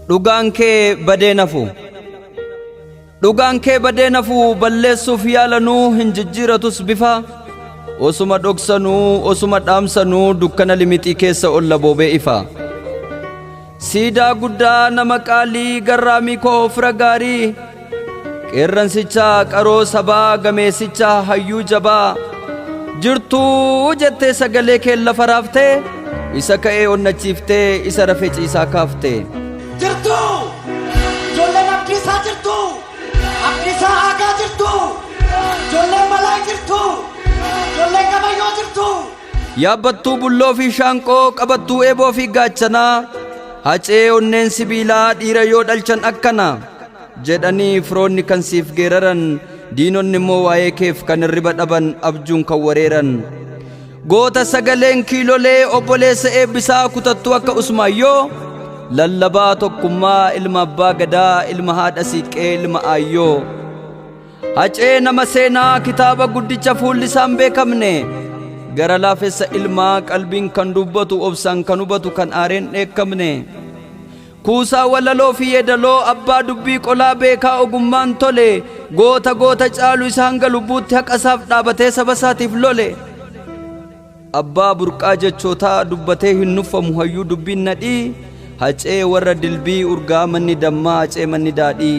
Dhugaan kee badee nafu. Dhugaan kee badee nafu balleessuuf yaalanuu hin jijjiiratus bifa. Osuma dhoksanuu osuma dhaamsanuu dukkana limixii keessa olla boobee ifa. Siidaa guddaa nama qaalii garraamii koo fira gaarii qeerransicha qaroo sabaa gameessicha hayyuu jabaa jirtuu jettee sagalee kee lafa raafte isa ka'ee onnachiiftee isa rafe ciisaa kaafte. jirtu ijoolleen abdiisaa jirtu abdiisaa aagaa jirtu ijoolleen balaa jirtu ijoolleen gabayyoo jirtu Yaabbattuu bulloo fi shaanqoo, qabattuu eeboo fi gaachanaa, hacee onneen sibiilaa dhiira yoo dhalchan akkana jedhanii firoonni kan siif geeraran diinonni immoo waa'ee keef kan hirriba dhaban abjuun kan wareeran. Goota sagaleen kiilolee obboleessa eebbisaa kutattuu akka usmaayyoo lallabaa tokkummaa ilma abbaa gadaa ilma haadha siiqqee ilma aayyoo. Hacee nama seenaa kitaaba guddicha fuulli isaa hin beekamne gara laafessa ilmaa qalbiin kan dubbatu obsaan kan hubatu kan aareen dheekkamne kuusaa walaloo fi yeedaloo abbaa dubbii qolaa beekaa ogummaan tole goota goota caalu isa hanga lubbuutti haqa isaaf dhaabatee saba isaatiif lole abbaa burqaa jechootaa dubbatee hin nuffamu hayyuu dubbiin nadhii hacee warra dilbii urgaa manni dammaa hacee manni daadhii.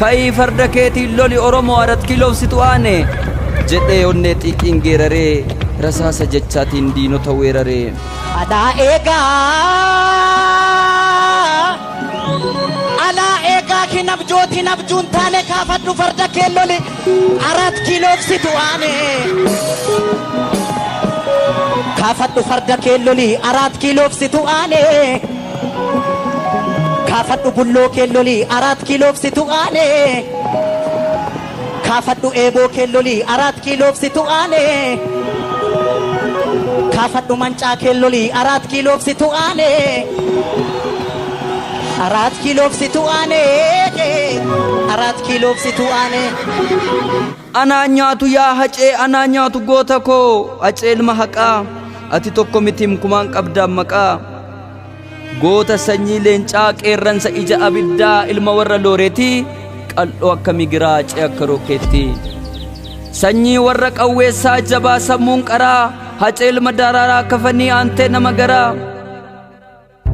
Ka'ii farda keetiin loli Oromoo Arat Kiiloof situ aane! jedhee onnee xiiqiin geeraree rasaasa jechaatiin diinota weerare. Anaa eegaa, anaa eegaa hin abjooti hin abjuun taane kaafadhu farda kee loli Arat Kiiloof situ aane! Kaafadhu farda kee loli Arat Kiiloof situ aane! Kaafadhu bulloo kee loli araat kiiloof situ aane. Kaafadhu eeboo kee loli araat kiiloof situ aane. Kaafadhu mancaa kee loli araat kiiloof situ aane. Araat kiiloof situ aane. Araat kiiloof situ aane. Anaa nyaatu yaa hacee anaa nyaatu goota koo hacee ilma haqaa ati tokko mitim kumaan qabdaan maqaa. Goota sanyii leencaa qeerransa ija abiddaa ilma warra looreetii qal'oo akka migiraa cee akka rookeettii. Sanyii warra qawweessaa jabaa sammuun qaraa hacee ilma daraaraa kafanii aantee nama garaa.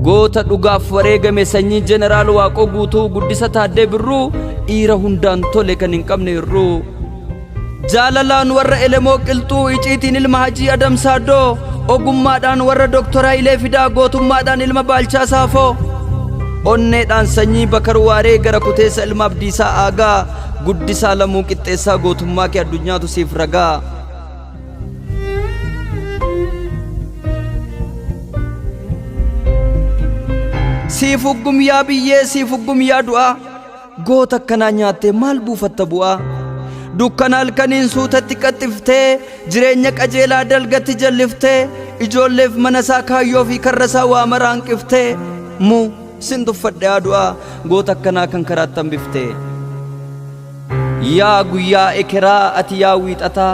Goota dhugaaf wareegame sanyii jeneraal waaqoo guutuu guddisa taaddee birruu dhiira hundaan tole kan hin qabne hir'uu. Jaalalaan warra Elemoo Qilxuu, iciitiin ilma Hajii Adam Saaddoo, ogummaadhaan warra Doktor Hayilee Fidaa, gootummaadhaan ilma Baalchaa Saafoo, onneedhaan sanyii Bakar Waaree gara kuteessa ilma Abdiisaa Aagaa, guddisaa Lamuu Qixxeessaa gootummaa kee addunyaatu siif ragaa. Siif uggum yaa biyyee, siif uggum yaa du'aa. Goota akkanaa nyaattee maal buufatta bu'aa? Dukkana halkaniin suutatti qaxxiftee, jireenya qajeelaa dalgatti jalliftee, ijoolleef mana isaa kaayyoo fi karra isaa waa maraa hanqiftee, mu sin tuffadhe haa du'aa, goota akkanaa kan karaatti hambiftee. Yaa guyyaa ekeraa ati yaa wiixataa,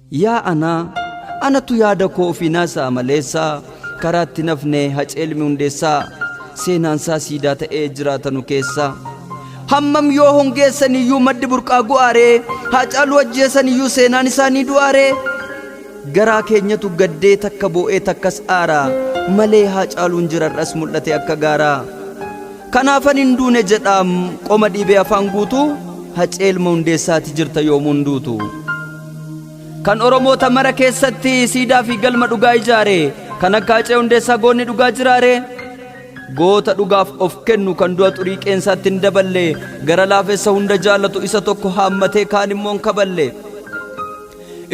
Yaa anaa! Anatu yaada koo ofii naasa'a maleessaa, karaa itti hin hafne Hacee Ilmi Hundeessaa, seenaansaa siidaa ta'ee jiraata nu keessaa. Hammam yoo hongeessaniyyuu maddi burqaa gu'aaree, Haacaaluu ajjeesaniyyuu seenaan isaa ni du'aaree? Garaa keenyatu gaddee takka boo'ee takkas aara, malee Haacaaluun jira har'as mul'atee akka gaaraa. Kanaafan hin duune jedhaam qoma dhiibee afaan guutuu, Hacee Ilma Hundeessaa ati jirta yoomuu hin duutu. kan oromoota mara keessatti siidaa fi galma dhugaa ijaare kan akka hacee hundeessaa goonni dhugaa jiraare goota dhugaaf of kennu kan du'a xurii qeensaatti hin daballe gara laafessa hunda jaallatu isa tokko haammatee kaan immoo hin kaballe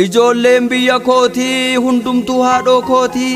ijoolleen biyya kootii hundumtuu haadhoo kootii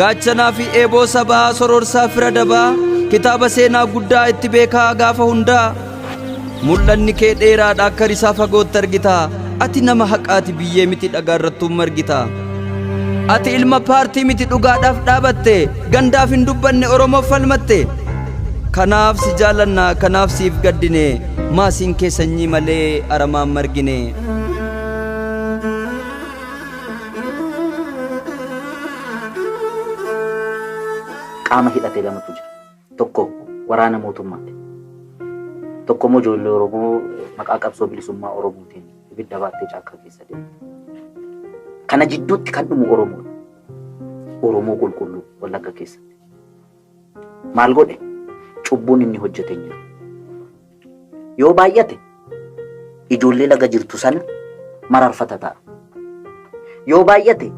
gaachanaa fi eeboo sabaa sororsaa fira dabaa kitaaba seenaa guddaa itti beekaa gaafa hundaa mul'anni kee dheeraadha akka risaa fagootti argita ati nama haqaati biyyee miti dhagaa irrattuun margita ati ilma paartii miti dhugaadhaaf dhaabatte gandaaf hin dubbanne oromoof falmatte kanaaf si jaalanna kanaaf siif gaddine maasiin kee sanyii malee aramaan margine. qaama hidhate lamatu jira. Tokko waraana mootummaati. Tokko immoo ijoollee Oromoo maqaa qabsoo bilisummaa Oromootiin ibidda baattee caakkaa keessa deemte. Kana jidduutti kan dhumu Oromoodha. Oromoo qulqulluu Wallagga keessatti. Maal godhe? Cubbuun inni hojjete hin jiru. Yoo baay'ate ijoollee laga jirtu sana mararfata ta'a. Yoo baay'ate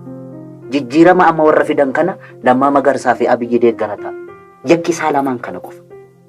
jijjiirama amma warra fidan kana Lammaa Magarsaa fi Abiyyi deeggara ta'a. Yakki isaa lamaan kana qofa.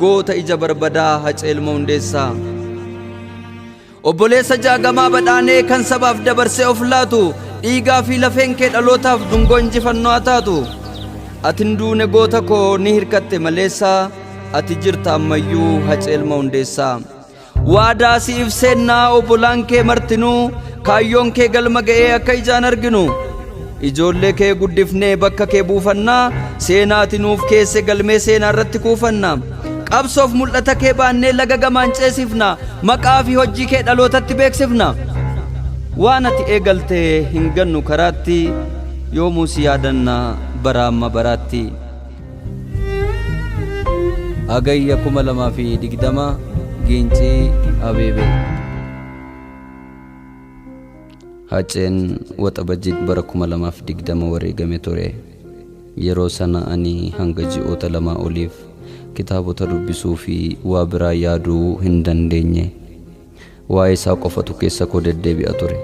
Goota ija barbadaa Hacee Ilma Hundeessaa. Obboleessa jaagamaa badhaanee kan sabaaf dabarsee of laatu dhiigaa fi lafeen kee dhalootaaf dungoo injifannoo haa taatu. Ati hin duune goota koo ni hirkatte maleessaa ati jirta ammayyuu Hacee Ilma Hundeessaa. Waadaa siif seennaa obbolaan kee martinuu kaayyoon kee galma ga'ee akka ijaan arginu. Ijoollee kee guddifnee bakka kee buufannaa seenaati nuuf keesse galmee seenaa irratti kuufanna. Qabsoof mul'ata kee baannee laga gamaan ceesifna maqaa fi hojii kee dhalootatti beeksifna. Waan ati eegalte hin gannu karaatti yoomuu si yaadanna baraa amma baraatti. Hagayya 2020 Giincii Abeebee. Haceen Waxabajjii bara 2020 wareegame ture. Yeroo sana ani hanga ji'oota lamaa oliif kitaabota dubbisuu fi waa biraa yaaduu hin dandeenye. Waa'ee isaa qofatu keessa koo deddeebi'a ture.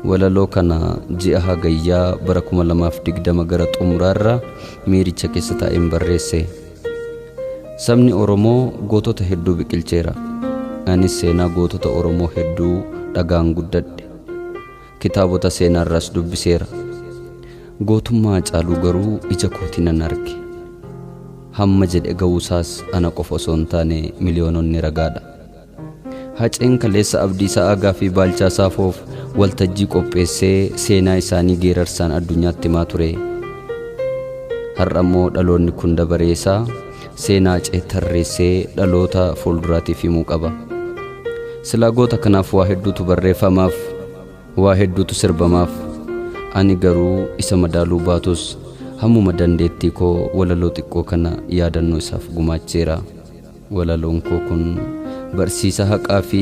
Walaloo kana ji'a Hagayyaa bara 2020 gara xumuraarra miiricha keessa taa'een barreesse. Sabni Oromoo gootota hedduu biqilcheera. Anis seenaa gootota Oromoo hedduu dhagaan guddadhe. Kitaabota seenaarraas dubbiseera. Gootummaa Hacaaluu garuu ija kootiin nan arge. Hamma jedhe ga'uusaas ana qofa osoo hin taane miliyoononni ragaadha. Haceen kaleessa Abdiisa'aa gaaffii Baalchaa Saafoof waltajjii qopheessee seenaa isaanii geerarsaan addunyaatti himaa ture. Har'a immoo dhaloonni kun dabaree isaa seenaa Hacee tarreessee dhaloota fuulduraatiif himuu qaba. Silaa goota kanaaf waa hedduutu barreeffamaaf, waa hedduutu sirbamaaf. Ani garuu isa madaaluu baatus hammuma dandeettii koo walaloo xiqqoo kana yaadannoo isaaf gumaacheera. Walaloon koo kun barsiisa haqaa fi.